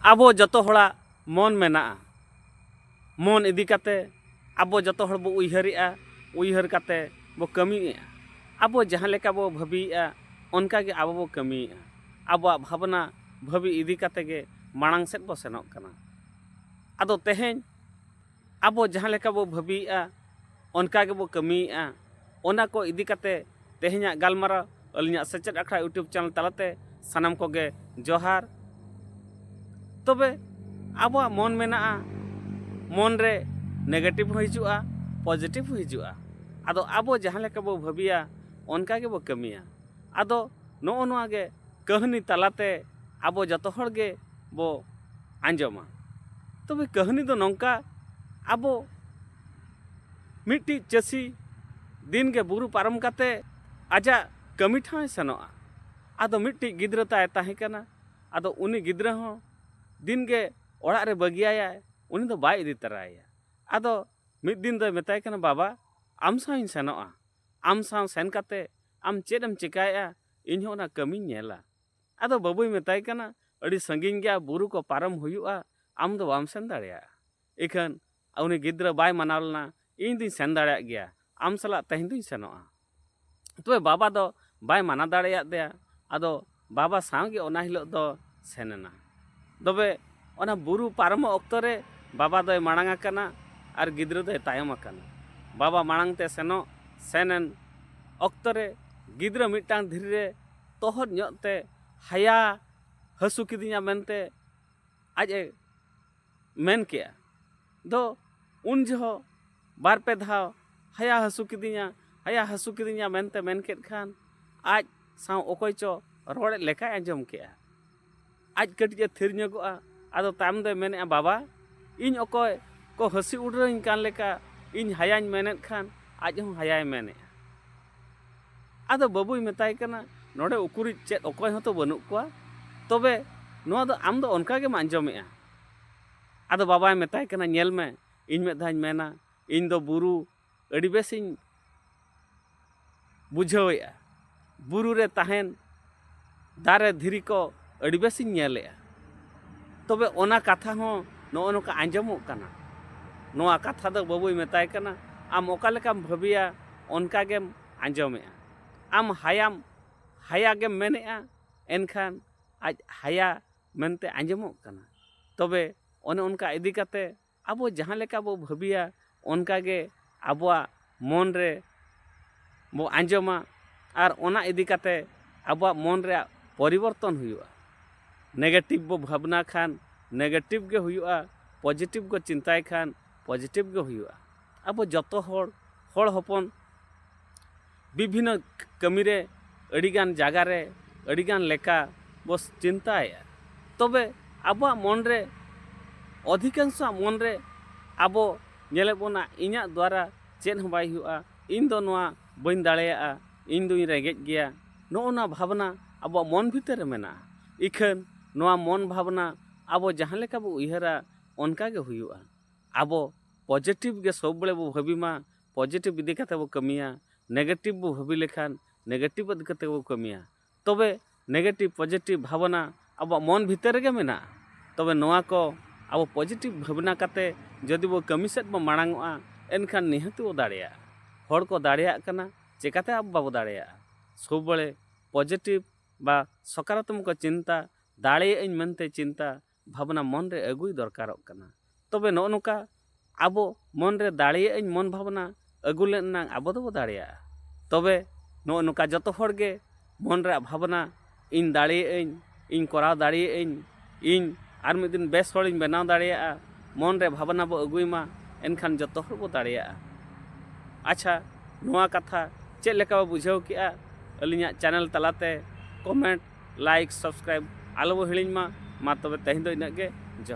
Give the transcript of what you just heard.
ᱟᱵᱚ ᱡᱚᱛᱚ ᱦᱚᱲᱟᱜ ᱢᱚᱱ ᱢᱮᱱᱟᱜᱼᱟ ᱢᱚᱱ ᱤᱫᱤ ᱠᱟᱛᱮ ᱟᱵᱚ ᱡᱚᱛᱚ ᱦᱚᱲ ᱵᱚ ᱩᱭᱦᱟᱹᱨᱮᱜᱼᱟ ᱩᱭᱦᱟᱹᱨ ᱠᱟᱛᱮ ᱵᱚ ᱠᱟᱹᱢᱤᱭᱮᱜᱼᱟ ᱟᱵᱚ ᱡᱟᱦᱟᱸ ᱞᱮᱠᱟ ᱵᱚ ᱵᱷᱟᱹᱵᱤᱭᱮᱜᱼᱟ ᱚᱱᱠᱟ ᱜᱮ ᱟᱵᱚ ᱵᱚ ᱠᱟᱹᱢᱤᱭᱮᱜᱼᱟ ᱟᱵᱚᱣᱟᱜ ᱵᱷᱟᱵᱽᱱᱟ ᱵᱷᱟᱹᱵᱤ ᱤᱫᱤ ᱠᱟᱛᱮ ᱜᱮ ᱢᱟᱲᱟᱝ ᱥᱮᱫ ᱵᱚ ᱥᱮᱱᱚᱜ ᱠᱟᱱᱟ ᱟᱫᱚ ᱛᱮᱦᱮᱧ ᱟᱵᱚ ᱡᱟᱦᱟᱸ ᱞᱮᱠᱟ ᱵᱚ ᱵᱷᱟᱹᱵᱤᱭᱮᱜᱼᱟ ᱚᱱᱠᱟ ᱜᱮᱵᱚ ᱠᱟᱹᱢᱤᱭᱮᱜᱼᱟ ᱚᱱᱟ ᱠᱚ ᱤᱫᱤ ᱠᱟᱛᱮ ᱛᱮᱦᱮᱧᱟᱜ ᱜᱟᱞᱢᱟᱨᱟᱣ ᱟᱹᱞᱤᱧᱟᱜ ᱥᱮᱪᱮᱫ ᱟᱠᱷᱲᱟ ᱤᱭᱩᱴᱩᱵᱽ ᱪᱮᱱᱮᱞ ᱛᱟᱞᱟᱛᱮ ᱥᱟᱱᱟᱢ ᱠᱚᱜᱮ ᱡᱚᱦᱟᱨ ᱛᱚᱵᱮ ᱟᱵᱚᱣᱟᱜ ᱢᱚᱱ ᱢᱮᱱᱟᱜᱼᱟ ᱢᱚᱱ ᱨᱮ ᱱᱮᱜᱮᱴᱤᱵᱷ ᱦᱚᱸ ᱦᱤᱡᱩᱜᱼᱟ ᱯᱚᱡᱮᱴᱤᱵᱷ ᱦᱚᱸ ᱦᱤᱡᱩᱜᱼᱟ ᱟᱫᱚ ᱟᱵᱚ ᱡᱟᱦᱟᱸ ᱞᱮᱠᱟ ᱵᱚ ᱵᱷᱟᱹᱵᱤᱭᱟ ᱚᱱᱠᱟ ᱜᱮᱵᱚ ᱠᱟᱹᱢᱤᱭᱟ ᱟᱫᱚ ᱱᱚᱜᱼᱚ ᱱᱚᱣᱟ ᱜᱮ ᱠᱟᱹᱦᱱᱤ ᱛᱟᱞᱟᱛᱮ ᱟᱵᱚ ᱡᱚᱛᱚ ᱦᱚᱲ ᱜᱮ ᱵᱚ ᱟᱸᱡᱚᱢᱟ ᱛᱚᱵᱮ ᱠᱟᱹᱦᱱᱤ ᱫᱚ ᱱᱚᱝᱠᱟ ᱟᱵᱚ ᱢᱤᱫᱴᱤᱡ ᱪᱟᱹᱥᱤ ᱫᱤᱱ ᱜᱮ ᱵᱩᱨᱩ ᱯᱟᱨᱚᱢ ᱠᱟᱛᱮ ᱟᱡᱟᱜ ᱠᱟᱹᱢᱤ ᱴᱷᱟᱶᱮ ᱥᱮᱱᱚᱜᱼᱟ ᱟᱫᱚ ᱢᱤᱫᱴᱤᱡ ᱜᱤᱫᱽᱨᱟᱹ ᱛᱟᱭ ᱛᱟᱦᱮᱸ ᱠᱟᱱᱟ ᱟᱫᱚ ᱩᱱᱤ ᱜᱤᱫᱽᱨᱟᱹ ᱦᱚᱸ ᱫᱤᱱ ᱜᱮ ᱚᱲᱟᱜ ᱨᱮ ᱵᱟᱹᱜᱤᱭᱟᱭᱟᱭ ᱩᱱᱤ ᱫᱚ ᱵᱟᱭ ᱤᱫᱤ ᱛᱟᱨᱟᱭᱮᱭᱟ ᱟᱫᱚ ᱢᱤᱫ ᱫᱤᱱ ᱫᱚᱭ ᱢᱮᱛᱟᱭ ᱠᱟᱱᱟ ᱵᱟᱵᱟ ᱟᱢ ᱥᱟᱶ ᱤᱧ ᱥᱮᱱᱚᱜᱼᱟ ᱟᱢ ᱥᱟᱶ ᱥᱮᱱ ᱠᱟᱛᱮ ᱟᱢ ᱪᱮᱫ ᱮᱢ ᱪᱮᱠᱟᱭᱮᱜᱼᱟ ᱤᱧ ᱦᱚᱸ ᱚᱱᱟ ᱠᱟᱹᱢᱤᱧ ᱧᱮᱞᱟ ᱟᱫᱚ ᱵᱟᱹᱵᱩᱭ ᱢᱮᱛᱟᱭ ᱠᱟᱱᱟ ᱟᱹᱰᱤ ᱥᱟᱺᱜᱤᱧ ᱜᱮᱭᱟ ᱵᱩᱨᱩ ᱠᱚ ᱯᱟᱨᱚᱢ ᱦᱩᱭᱩᱜᱼᱟ ᱟᱢ ᱫᱚ ᱵᱟᱢ ᱥᱮᱱ ᱫᱟᱲᱮᱭᱟᱜᱼᱟ ᱤᱠᱷᱟᱹᱱ ᱩᱱᱤ ᱜᱤᱫᱽᱨᱟᱹ ᱵᱟᱭ ᱢᱟᱱᱟᱣ ᱞᱮᱱᱟ ᱤᱧ ᱫᱩᱧ ᱥᱮᱱ ᱫᱟᱲᱮᱭᱟᱜ ᱜᱮᱭᱟ ᱟᱢ ᱥᱟᱞᱟᱜ ᱛᱮᱦᱮᱧ ᱫᱩᱧ ᱥᱮᱱᱚᱜᱼᱟ ᱛᱚᱵᱮ ᱵᱟᱵᱟ ᱫᱚ ᱵᱟᱭ ᱢᱟᱱᱟ ᱫᱟᱲᱮᱭᱟᱜ ᱫᱮᱭᱟ ᱟᱫᱚ ᱵᱟᱵᱟ ᱥᱟᱶ ᱜᱮ ᱚᱱᱟ ᱦᱤᱞᱳᱜ ᱫᱚ ᱥᱮᱱ ᱮᱱᱟ ᱛᱚᱵᱮ ᱚᱱᱟ ᱵᱩᱨᱩ ᱯᱟᱨᱚᱢᱚᱜ ᱚᱠᱛᱚ ᱨᱮ ᱵᱟᱵᱟ ᱫᱚᱭ ᱢᱟᱲᱟᱝ ᱟᱠᱟᱱᱟ ᱟᱨ ᱜᱤᱫᱽᱨᱟᱹ ᱫᱚᱭ ᱛᱟᱭᱚᱢ ᱟᱠᱟᱱᱟ ᱵᱟᱵᱟ ᱢᱟᱲᱟᱝ ᱛᱮ ᱥᱮᱱᱚᱜ ᱥᱮᱱ ᱮᱱ ᱚᱠᱛᱚ ᱨᱮ ᱜᱤᱫᱽᱨᱟᱹ ᱢᱤᱫᱴᱟᱝ ᱫᱷᱤᱨᱤ ᱨᱮ ᱛᱚᱦᱚᱫ ᱧᱚᱜ ᱛᱮ ᱦᱟᱭᱟ ᱦᱟᱹᱥᱩ ᱠᱤᱫᱤᱧᱟ ᱢᱮᱱᱛᱮ ᱟᱡ ᱮ ᱢᱮᱱ ᱠᱮᱜᱼᱟ ᱫᱚ ᱩᱱ ᱡᱚᱦᱚᱜ ᱵᱟᱨ ᱯᱮ ᱫᱷᱟᱣ ᱦᱟᱭᱟ ᱦᱟᱹᱥᱩ ᱠᱤᱫᱤᱧᱟ ᱦᱟᱭᱟ ᱦᱟᱹᱥᱩ ᱠᱤᱫᱤᱧᱟ ᱢᱮᱱᱛᱮ ᱢᱮᱱ ᱠᱮᱫ ᱠᱷᱟᱱ ᱟᱡ ᱥᱟᱶ ᱚᱠᱚᱭ ᱪᱚ ᱨᱚᱲᱮᱫ ᱞᱮᱠᱟᱭ ᱟᱸᱡᱚᱢ ᱠᱮᱜᱼᱟ ᱟᱡ ᱠᱟᱹᱴᱤᱡ ᱮ ᱛᱷᱤᱨ ᱧᱚᱜᱚᱜᱼᱟ ᱟᱫᱚ ᱛᱟᱭᱚᱢ ᱫᱚᱭ ᱢᱮᱱᱮᱜᱼᱟ ᱵᱟᱵᱟ ᱤᱧ ᱚᱠᱚᱭ ᱠᱚ ᱦᱟᱹᱥᱤ ᱩᱰᱨᱟᱹᱧ ᱠᱟᱱ ᱞᱮᱠᱟ ᱤᱧ ᱦᱟᱭᱟᱧ ᱢᱮᱱᱮᱫ ᱠᱷᱟᱱ ᱟᱡ ᱦᱚᱸ ᱦᱟᱭᱟᱭ ᱢᱮᱱᱮᱜᱼᱟ ᱟᱫᱚ ᱵᱟᱹᱵᱩᱭ ᱢᱮᱛᱟᱭ ᱠᱟᱱᱟ ᱱᱚᱰᱮ ᱩᱠᱩᱨᱤᱡ ᱪᱮᱫ ᱚᱠᱚᱭ ᱦᱚᱸᱛᱚ ᱵᱟᱹᱱᱩᱜ ᱠᱚᱣᱟ ᱛᱚᱵᱮ ᱱᱚᱣᱟ ᱫᱚ ᱟᱢ ᱫᱚ ᱚᱱᱠᱟ ᱜᱮᱢ ᱟᱸᱡᱚᱢᱮᱜᱼᱟ ᱟᱫᱚ ᱵᱟᱵᱟᱭ ᱢᱮᱛᱟᱭ ᱠᱟᱱᱟ ᱧᱮᱞ ᱢᱮ ᱤᱧ ᱢᱤᱫ ᱫᱷᱟᱣᱤᱧ ᱢᱮᱱᱟ ᱤᱧ ᱫᱚ ᱵᱩᱨᱩ ᱟᱹᱰᱤ ᱵᱮᱥᱤᱧ ᱵᱩᱡᱷᱟᱹᱣᱮᱫᱼᱟ ᱵᱩᱨᱩ ᱨᱮ ᱛᱟᱦᱮᱱ ᱫᱟᱨᱮ ᱫᱷᱤᱨᱤ ᱠᱚ ᱟᱹᱰᱤ ᱵᱮᱥᱤᱧ ᱧᱮᱞᱮᱫᱼᱟ ᱛᱚᱵᱮ ᱚᱱᱟ ᱠᱟᱛᱷᱟ ᱦᱚᱸ ᱱᱚᱜᱼᱚ ᱱᱚᱝᱠᱟ ᱟᱸᱡᱚᱢᱚᱜ ᱠᱟᱱᱟ ᱱᱚᱣᱟ ᱠᱟᱛᱷᱟ ᱫᱚ ᱵᱟᱹᱵᱩᱭ ᱢᱮᱛᱟᱭ ᱠᱟᱱᱟ ᱟᱢ ᱚᱠᱟ ᱞᱮᱠᱟᱢ ᱵᱷᱟᱹᱵᱤᱭᱟ ᱚᱱᱠᱟ ᱜᱮᱢ ᱟᱸᱡᱚᱢᱮᱫᱼᱟ ᱟᱢ ᱦᱟᱭᱟᱢ ᱦᱟᱭᱟ ᱜᱮᱢ ᱢᱮᱱᱮᱫᱼᱟ ᱮᱱᱠᱷᱟᱱ ᱟᱡ ᱦᱟᱭᱟ ᱢᱮᱱᱛᱮ ᱟᱸᱡᱚᱢᱚᱜ ᱠᱟᱱᱟ ᱛᱚᱵᱮ ᱚᱱᱮ ᱚᱱᱠᱟ ᱤᱫᱤ ᱠᱟᱛᱮᱫ ᱟᱵᱚ ᱡᱟᱦᱟᱸ ᱞᱮᱠᱟ ᱵᱚ ᱵᱷᱟᱹᱵᱤᱭᱟ ᱚᱱᱠᱟ ᱜᱮ ᱟᱵᱚᱣᱟᱜ ᱢᱚᱱ ᱨᱮ ᱵᱚ ᱟᱸᱡᱚᱢᱟ ᱟᱨ ᱚᱱᱟ ᱤᱫᱤ ᱠᱟᱛᱮ ᱟᱵᱚᱣᱟᱜ ᱢᱚᱱ ᱨᱮᱭᱟᱜ ᱯᱚᱨᱤᱵᱚᱨᱛᱚᱱ ᱦᱩᱭᱩᱜᱼᱟ ᱱᱮᱜᱮᱴᱤᱵᱽ ᱵᱚ ᱵᱷᱟᱵᱽᱱᱟ ᱠᱷᱟᱱ ᱱᱮᱜᱮᱴᱤᱵᱽ ᱜᱮ ᱦᱩᱭᱩᱜᱼᱟ ᱯᱚᱡᱮᱴᱤᱵᱽ ᱠᱚ ᱪᱤᱱᱛᱟᱭ ᱠᱷᱟᱱ ᱯᱚᱡᱮᱴᱤᱵᱽ ᱜᱮ ᱦᱩᱭᱩᱜᱼᱟ ᱟᱵᱚ ᱡᱚᱛᱚ ᱦᱚᱲ ᱦᱚᱲ ᱦᱚᱯᱚᱱ ᱵᱤᱵᱷᱤᱱᱱᱚ ᱠᱟᱹᱢᱤ ᱨᱮ ᱟᱹᱰᱤ ᱜᱟᱱ ᱡᱟᱭᱜᱟ ᱨᱮ ᱟᱹᱰᱤ ᱜᱟᱱ ᱞᱮᱠᱟ ᱵᱚ ᱪᱤᱱᱛᱟᱹᱭᱮᱫᱼᱟ ᱛᱚᱵᱮ ᱟᱵᱚᱣᱟᱜ ᱢᱚᱱ ᱨᱮ ᱚᱫᱷᱤᱠᱟᱝᱥᱚᱣᱟᱜ ᱢᱚᱱ ᱨᱮ ᱟᱵᱚ ᱧᱮᱞᱮᱫ ᱵᱚᱱᱟ ᱤᱧᱟᱹᱜ ᱫᱟᱨᱟ ᱪᱮᱫ ᱦᱚᱸ ᱵᱟᱭ ᱦᱩᱭᱩᱜᱼᱟ ᱤᱧ ᱫᱚ ᱱᱚᱣᱟ ᱵᱟᱹᱧ ᱫᱟᱲᱮᱭᱟᱜᱼᱟ ᱤᱧ ᱫᱚᱧ ᱨᱮᱸᱜᱮᱡ ᱜᱮᱭᱟ ᱱᱚᱜᱼᱚ ᱱᱚᱣᱟ ᱵᱷᱟᱵᱽᱱᱟ ᱟᱵᱚᱣᱟᱜ ᱢᱚᱱ ᱵᱷᱤᱛᱤᱨ ᱨᱮ ᱢᱮᱱᱟᱜᱼᱟ ᱤᱠᱷᱟᱹᱱ ᱱᱚᱣᱟ ᱢᱚᱱ ᱵᱷᱟᱵᱽᱱᱟ ᱟᱵᱚ ᱡᱟᱦᱟᱸ ᱞᱮᱠᱟ ᱵᱚ ᱩᱭᱦᱟᱹᱨᱟ ᱚᱱᱠᱟ ᱜᱮ ᱦᱩᱭᱩᱜᱼᱟ ᱟᱵᱚ ᱯᱚᱡᱮᱴᱤᱵᱽ ᱜᱮ ᱥᱚᱵᱽ ᱵᱟᱲᱮ ᱵᱚ ᱵᱷᱟᱹᱵᱤ ᱢᱟ ᱯᱚᱡᱮᱴᱤᱵᱽ ᱤᱫᱤ ᱠᱟᱛᱮ ᱵᱚ ᱠᱟᱹᱢᱤᱭᱟ ᱱᱮᱜᱮᱴᱤᱵᱽ ᱵᱚ ᱵᱷᱟᱹᱵᱤ ᱞᱮᱠᱷᱟᱱ ᱱᱮᱜᱮᱴᱤᱵᱽ ᱤᱫᱤ ᱠᱟᱛᱮ ᱵᱚ ᱠᱟᱹᱢᱤᱭᱟ ᱛᱚᱵᱮ ᱱᱮᱜᱮᱴᱤᱵᱽ ᱯᱚᱡᱮᱴᱤᱵᱽ ᱵᱷᱟᱵᱽᱱᱟ ᱟᱵᱚᱣᱟᱜ ᱢᱚᱱ ᱵᱷᱤᱛᱤᱨ ᱨᱮᱜᱮ ᱢᱮᱱᱟᱜᱼᱟ ᱛᱚᱵᱮ ᱱᱚᱣᱟ ᱠᱚ ᱟᱵᱚ ᱯᱚᱡᱮᱴᱤᱵᱽ ᱵᱷᱟᱵᱽᱱᱟ ᱠᱟᱛᱮ ᱡᱩᱫᱤ ᱵᱚ ᱠᱟᱹᱢᱤ ᱥᱮᱫ ᱵᱚ ᱢᱟᱲᱟᱝᱚᱜᱼᱟ ᱮᱱᱠᱷᱟᱱ ᱱᱤᱦᱟᱹᱛ ᱵᱚ ᱫᱟᱲᱮᱭᱟᱜᱼᱟ ᱦᱚᱲ ᱠᱚ ᱫᱟᱲᱮᱭᱟᱜ ᱠᱟᱱᱟ ᱪᱤᱠᱟᱹᱛᱮ ᱟᱵᱚ ᱵᱟᱵᱚ ᱫᱟᱲᱮᱭᱟᱜᱼᱟ ᱥᱚᱵᱽ ᱵᱟᱲᱮ ᱯᱚᱡᱮᱴᱤᱵᱽ ᱵᱟ ᱥᱚᱠᱟᱨᱟᱛᱢᱚᱠ ᱪᱤᱱᱛᱟ ᱫᱟᱲᱮᱭᱟᱜ ᱟᱹᱧ ᱢᱮᱱᱛᱮ ᱪᱤᱱᱛᱟ ᱵᱷᱟᱵᱽᱱᱟ ᱢᱚᱱ ᱨᱮ ᱟᱹᱜᱩᱭ ᱫᱚᱨᱠᱟᱨᱚᱜ ᱠᱟᱱᱟ ᱛᱚᱵᱮ ᱱᱚᱜᱼᱚ ᱱᱚᱝᱠᱟ ᱟᱵᱚ ᱢᱚᱱ ᱨᱮ ᱫᱟᱲᱮᱭᱟᱜ ᱟᱹᱧ ᱢᱚᱱ ᱵᱷᱟᱵᱽᱱᱟ ᱟᱹᱜᱩ ᱞᱮᱱ ᱮᱱᱟᱝ ᱟᱵᱚ ᱫᱚᱵᱚ ᱫᱟᱲᱮᱭᱟᱜᱼᱟ ᱛᱚᱵᱮ ᱱᱚᱜᱼᱚ ᱱᱚᱝᱠᱟ ᱡᱚᱛᱚ ᱦᱚᱲ ᱜᱮ ᱢᱚᱱ ᱨᱮᱭᱟᱜ ᱵᱷᱟᱵᱽᱱᱟ ᱤᱧ ᱫᱟᱲᱮᱭᱟᱜ ᱟᱹᱧ ᱤᱧ ᱠᱚᱨᱟᱣ ᱫᱟᱲᱮᱭᱟᱜ ᱟᱹᱧ ᱤᱧ ᱟᱨ ᱢᱤᱫ ᱫᱤᱱ ᱵᱮᱥ ᱦᱚᱲᱤᱧ ᱵᱮᱱᱟᱣ ᱫᱟᱲᱮᱭᱟᱜᱼᱟ ᱢᱚᱱ ᱨᱮ ᱵᱷᱟᱵᱽᱱᱟ ᱵᱚ ᱟᱹᱜᱩᱭ ᱢᱟ ᱮᱱᱠᱷᱟᱱ ᱡᱚᱛᱚ ᱦᱚᱲ ᱵᱚ ᱫᱟᱲᱮᱭᱟᱜᱼᱟ ᱟᱪᱪᱷᱟ ᱱᱚᱣᱟ ᱠᱟᱛᱷᱟ ᱪᱮᱫ ᱞᱮᱠᱟ ᱵᱚ ᱵᱩᱡᱷᱟᱹᱣ ᱠᱮᱜᱼᱟ ᱟᱹᱞᱤᱧᱟᱜ ᱪᱮᱱᱮᱞ ᱛᱟᱞᱟᱛᱮ ᱠᱚᱢᱮᱱᱴ ᱞᱟᱭᱤᱠ ᱥᱟᱵᱥᱠᱨᱟᱭᱤᱵᱽ ᱟᱞᱚ ᱵᱚ ᱦᱤᱲᱤᱧ ᱢᱟ ᱢᱟ ᱛᱚᱵᱮ ᱛᱮᱦᱮᱧ ᱫᱚ ᱤᱱᱟᱹᱜ ᱜᱮ ᱡᱚᱦᱟᱨ